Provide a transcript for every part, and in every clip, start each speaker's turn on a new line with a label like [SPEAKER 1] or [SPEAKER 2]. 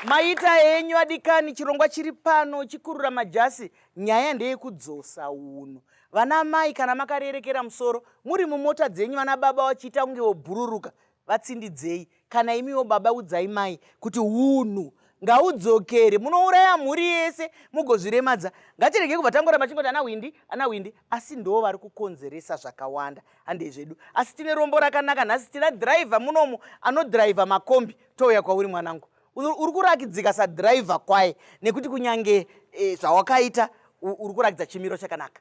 [SPEAKER 1] maita henyu adikani chirongwa chiri pano chikurura majasi nyaya ndeyekudzosa uno vana mai kana makarerekera musoro muri mumota dzenyu vana baba vachiita kunge vobhururuka vatsindidzei kana imiwo baba udzai mai kuti hunhu ngaudzokere munouraya mhuri yese mugozviremadza ngatirege kubva tangoramba chingoti ana hwindi ana hwindi asi ndoo vari kukonzeresa zvakawanda handei zvedu asi tine rombo rakanaka nhasi tina dhiraivha munomu anodhiraivha makombi touya kwauri mwanangu uri kurakidzika sadhiraivha kwaye nekuti kunyange e, zvawakaita uri kurakidza chimiro chakanaka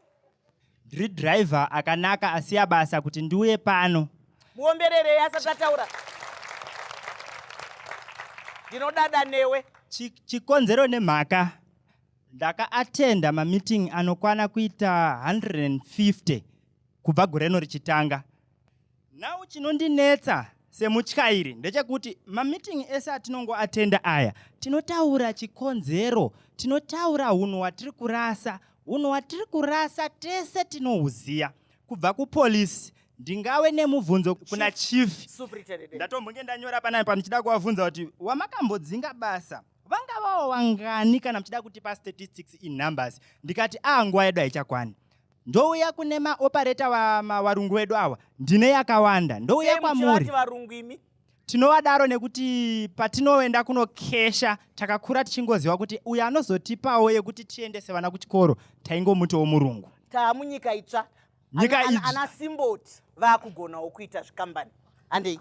[SPEAKER 1] Ndiri
[SPEAKER 2] driver akanaka asiya basa kuti ndiuye pano. Muombererei
[SPEAKER 1] asati ataura. Ndinodada newe. Chikonzero
[SPEAKER 2] nemhaka ndakaatenda mameeting anokwana kuita 150 kubva gore rino richitanga. Now chinondinetsa semutyairi ndechekuti mameeting ese atinongo atenda aya tinotaura chikonzero tinotaura hunhu hwatiri kurasa hunhu hwatiri kurasa tese tinohuziya kubva kupolisi ndingawe nemubvunzo kuna chief ndatombonge ndanyora panai pa ndichida kuvabvunza kuti wamakambodzinga basa vangavawo wangani kana muchida kutipa statistics in numbers ndikati a ah, nguva yedu haichakwani Ndouya kune ma operator wa ma warungu wedu awa ndine yakawanda ndouya Sei kwamuri. muchivati varungu imi? Tinovadaro nekuti patinoenda kunokesha takakura tichingoziva kuti uyu anozotipawo yekuti tiendese vana kuchikoro taingomutiwo murungu. Taa munyika itsva.
[SPEAKER 1] Nyika Ana- ana- itsva. Ana Simboti vakugonawo kuita zvikambani. Handei.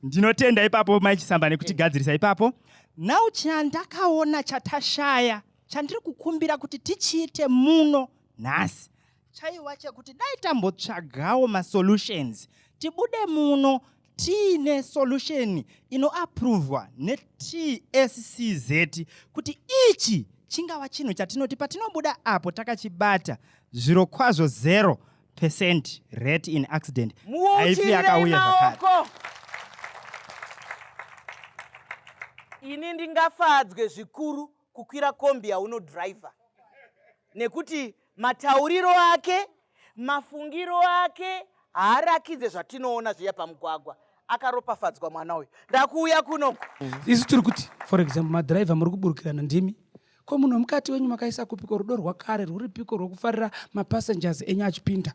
[SPEAKER 1] Ndinotenda
[SPEAKER 2] ipapo mai Chisamba nekutigadzirisa ipapo. Now chandakaona chatashaya chandiri kukumbira kuti tichiite muno nhasi chaiwa chekuti dai tambotsvagawo masolutions tibude muno tiine solution inoapruvwa neTSCZ kuti ichi chingava chinhu chatinoti patinobuda apo takachibata zviro kwazvo zero percent rate in accident haifi yakauya zvakare
[SPEAKER 1] ini ndingafadzwe zvikuru kukwira kombi yaunodriver nekuti matauriro ake mafungiro ake haarakidze zvatinoona zviya pamugwagwa akaropafadzwa mwana uyu ndakuuya kunoku isu tiri kuti
[SPEAKER 3] for example madriver muri kuburukirana ndimi ko munhu wemukati wenyu makaisa kupiko rudo rwakare rwuripiko rwekufarira mapassengers enyu achipinda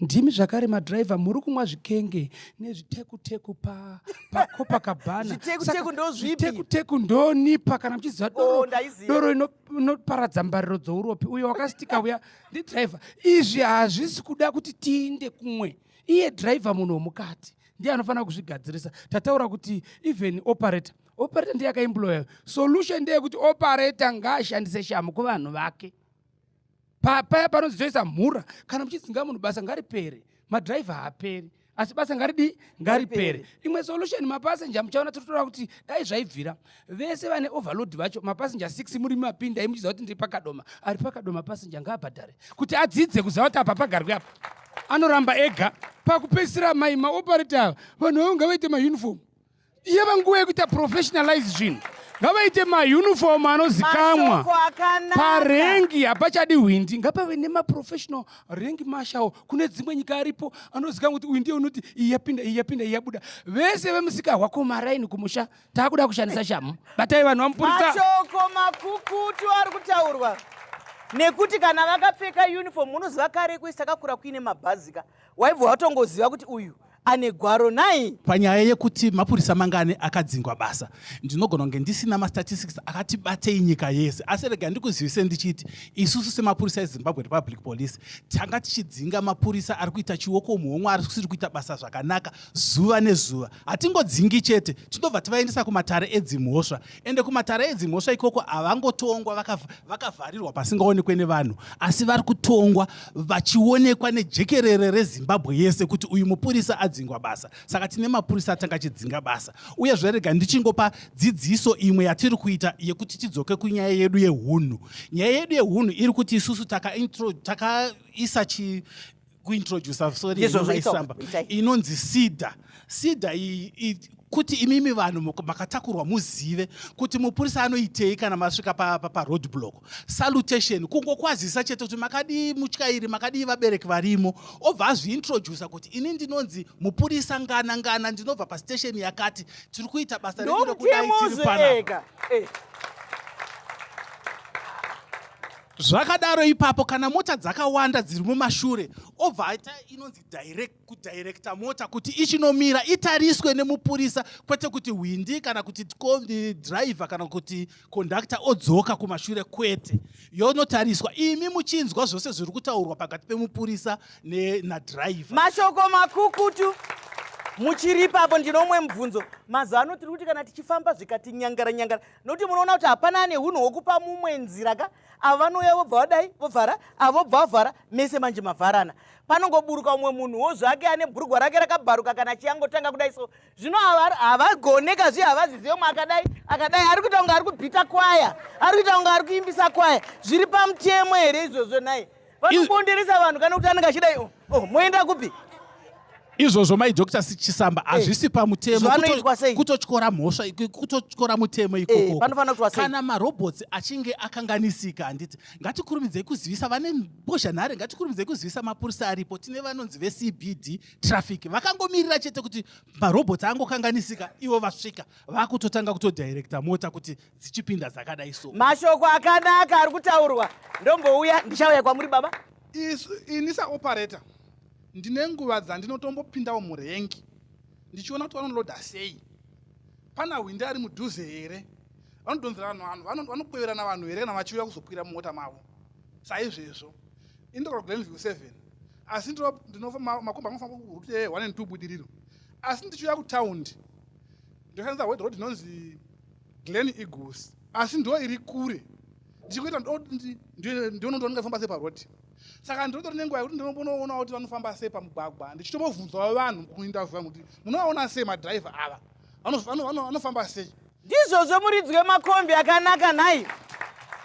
[SPEAKER 3] Ndimi zvakare madriver muri kumwa zvikenge nezvitekuteku pa paCopacabana. Zvitekuteku Saka
[SPEAKER 1] ndozvipi? Zvitekuteku ndonipa
[SPEAKER 3] kana muchiziva Oh, doro, ndaiziva. doro ino- inoparadza mbariro dzouropi uyo wakasitika uya ndidriver. Izvi hazvisi kuda kuti tiinde kumwe. Iye driver munhu womukati ndiye anofanira kuzvigadzirisa. Tataura kuti even operator operator ndiye akaemployer. Solution ndeyekuti operator ngaashandise shamu kuvanhu vake. paya panozoisa mhura kana muchidzinga munhu basa ngaripere madhiraivha haaperi asi basa ngaridii ngaripere imwe solution mapasenja muchaona tototora kuti dai zvaibvira vese vane overload vacho mapasenja 6 muri mapinda imuchiziva kuti ndiri pakadoma ari pakadoma pasenja ngaabhadhare kuti adzidze kuziva kuti apa pagarwi apa anoramba ega pakupedzisira mai maoparita ava vanhu vavo ngavaite maunifomu yava nguva yekuita professionalize zvinhu ngavaite mauniform anozikamwa parengi hapachadi hwindi ngapave nemaprofessional rengi mashawo kune dzimwe nyika aripo anozikamwa kuti uyu ndiye unoti iyi yapinda iyi yapinda iyi yabuda vese vemusika hwakomaraini kumusha taakuda kushandisa shamu batai vanhu vamupurisamashoko
[SPEAKER 1] makukutu ari kutaurwa nekuti kana vakapfeka uniform unoziva kare kuisa kakura kuine mabhazika waibva watongoziva kuti uyu ane gwaro nai panyaya yekuti
[SPEAKER 4] mapurisa mangani akadzingwa basa ndinogona kunge ndisina mastatistics akati batei nyika yese asi rega ndikuzivise ndichiti isusu semapurisa ezimbabwe republic police tanga tichidzinga mapurisa ari kuita chioko muhomwe ari kusiri kuita basa zvakanaka zuva nezuva hatingodzingi chete tinobva tivaendesa kumatare edzimhosva ende kumatare edzimhosva ikoko havangotongwa vakavharirwa pasingaonekwe nevanhu asi vari kutongwa vachionekwa nejekerere rezimbabwe yese kuti uyu mupurisa adzingwa basa saka tine mapurisa atanga chidzinga basa uye zverega ndichingopa dzidziso imwe yatiri kuita yekuti tidzoke kunyaya yedu yeunhu nyaya yedu yeunhu iri kuti isusu takaisa taka kuintroducer sorry inovaisamba inonzi sida sida kuti imimi vanhu makatakurwa muzive kuti mupurisa anoitei kana masvika paroad pa, block salutation kungokwazisa chete kuti makadii mutyairi makadii vabereki varimo obva azviintrodusa kuti ini ndinonzi mupurisa ngana ngana ndinobva pastation yakati tiri kuita basa redu rekudai tiri panapa eh. zvakadaro ipapo kana mota dzakawanda dziri mumashure obva aita inonzi direct kudirecta mota kuti ichinomira itariswe nemupurisa kwete kuti hwindi kana kuti driver kana kuti conductor odzoka kumashure kwete yonotariswa imi muchinzwa zvose zviri kutaurwa pakati pemupurisa nadriver mashoko
[SPEAKER 1] makukutu muchiri ipapo ndinomwe mubvunzo mazuva ano tiri kuti kana tichifamba zvikatinyangara nyangara nokuti munoona kuti hapana ane hunhu hwokupa mumwe nzira ka avo vanouya vobva vadai vovhara avo bva vavhara mese manje mavharana panongoburuka umwe munhu wo zvake ane bhurugwa rake rakabharuka kana achiyangotanga kudai so zvino havagone ka zviye havazizive umwe akadai akadai ari kuita kunge ari kubhita kwaya ari kuita kunge ari kuimbisa kwaya zviri pamutemo here izvozvo nhai vanobonderesa vanhu kana kuti anenge achida oh, oh, moenda kupi izvozvo
[SPEAKER 4] mai dr sichisamba eh, hazvisi pamutemo kutotyora mhosva kutotyora mutemo eh, ikoko kana marobots achinge akanganisika handiti ngatikurumidzei kuzivisa vane mbozhanhare ngatikurumidzei kuzivisa mapurisa aripo tine vanonzi vecbd traffic vakangomirira chete kuti marobots angokanganisika ivo vasvika vakutotanga kutodirecta mota kuti dzichipinda dzakadai so mashoko akanaka
[SPEAKER 1] ari kutaurwa ndombouya ndichauya kwamuri baba ini
[SPEAKER 5] saoperator ndine nguva dzandinotombopindawo murengi ndichiona kuti vanoloda sei pana hwindi ari mudhuze here vanodhonzera vanhu vanhu vanokweverana vanhu here kana vachiuya kuzokwira mumota mavo saizvezvo indokora glenview seven asi makomba anofanira kurute one and two budiriro asi ndichiuya kutaundi ndoshandisa wed road inonzi Glen Eagles asi ndo iri kure ndichikuita ndonondoona ndafamba sei paroad saka ndinotori nenguva yekuti ndinombonoona kuti vanofamba sei pamugwagwa ndichitombobvunzawo vanhu kuindavu vangu kuti munovaona sei madhiraivha ava vanofamba sei ndizvozvo muridzi
[SPEAKER 1] wemakombi akanaka nhai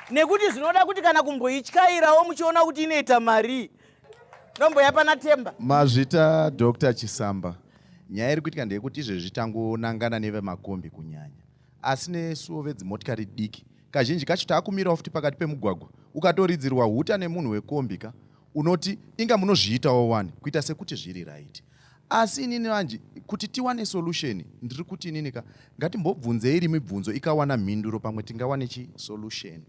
[SPEAKER 1] nekuti zvinoda kuti kana kumboityairawo muchiona kuti inoita marii Nombo yapana temba. Mazvita Dr.
[SPEAKER 6] Chisamba. Nyaya iri kuitika ndeyekuti izvezvi tangonangana nevemakombi kunyanya. Asi nesuwo vedzimotikari diki kazhinji kacho taakumirawo futi pakati pemugwagwa ukatoridzirwa huta nemunhu wekombi ka unoti inga munozviitawo wani kuita sekuti zviri right asi inini vanji kuti tiwane solution ndiri kuti inini ka ngatimbobvunzei iri mibvunzo ikawana mhinduro pamwe tingawane chi solution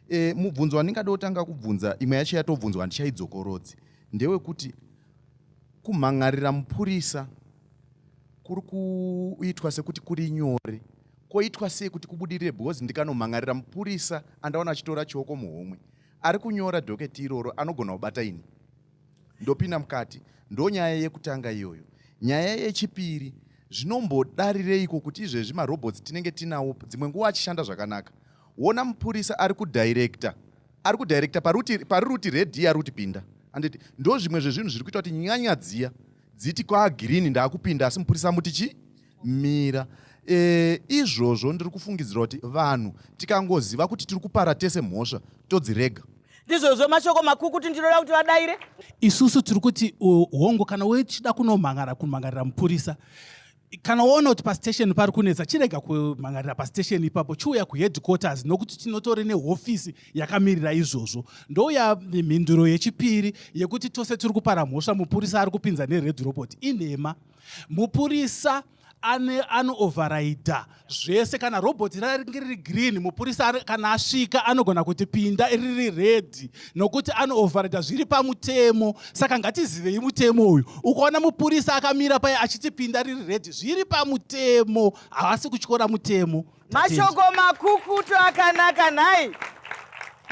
[SPEAKER 6] E, mubvunzo wandingada kutanga kubvunza imwe yacho yatobvunzwa handichaidzokorodzi ndewekuti kumhan'arira mupurisa kuri kuitwa sekuti kuri nyore koitwa sei kuti kubudirire because ndikanomhan'arira mupurisa andaona achitora chioko muhomwe ari kunyora dhoketi iroro anogona kubata ini ndopinda mukati ndonyaya yekutanga iyoyo nyaya yechipiri zvinombodarireiko kuti izvezvi marobots tinenge tinawo dzimwe nguva achishanda zvakanaka Wona mupurisa ari kudirector ari kudirector paruti pariruti red iya ruti pinda anditi ndo zvimwe zvezvinhu zviri kuita kuti nyanya dziya dziti kwa green ndakupinda asi mupurisa muti chi mira e, izvozvo ndiri kufungidzira kuti vanhu tikangoziva kuti tiri kupara tese mhosva todzirega ndizvozvo mashoko
[SPEAKER 1] makuru kuti ndinoda kuti vadaire isusu tiri
[SPEAKER 4] kuti hongu kana wechida kunomhangara kumhangarira mupurisa kana waona kuti pastation pari kunetsa chirega kumhangarira pastation ipapo chiuya kuheadquarters nokuti tinotori nehofisi yakamirira izvozvo ndouya mhinduro yechipiri yekuti tose tiri kupara mhosva mupurisa ari kupinza nered robot inhema mupurisa anoovharaidha zvese kana robot raringe riri green mupurisa kana asvika anogona kuti pinda riri red nokuti anooverida zviri pamutemo saka ngatizivei mutemo uyu ukaona mupurisa akamira paye achiti pinda riri red zviri pamutemo havasi kutyora mutemo mashoko
[SPEAKER 1] makukutu akanaka nhai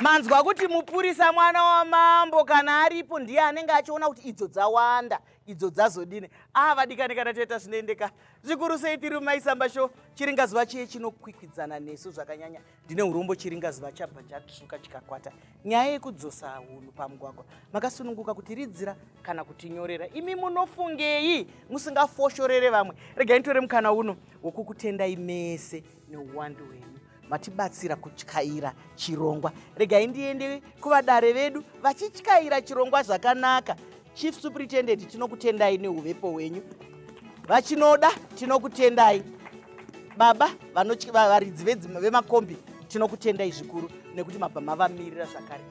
[SPEAKER 1] manzwa kuti mupurisa mwana wamambo kana aripo ndiye anenge achiona kuti idzo dzawanda idzo dzazodini aa ah, vadikani kana toita zvinoendeka zvikuru sei tiri mumaisamba sho chiringazuva chiye chinokwikwidzana nesu zvakanyanya ndine urombo chiringazuva chabva chatsvuka chikakwata nyaya yekudzosa hunhu pamugwagwa makasununguka kuti ridzira kana kutinyorera imi munofungei musingafoshorere vamwe regai nitore mukana uno wokukutendai mese neuwandu hwenyu matibatsira kutyaira chirongwa regai ndiende kuvadare vedu vachityaira chirongwa zvakanaka chief superintendent tinokutendai neuvepo hwenyu vachinoda tinokutendai baba varidzi vemakombi tinokutendai zvikuru nekuti mabva mavamirira zvakare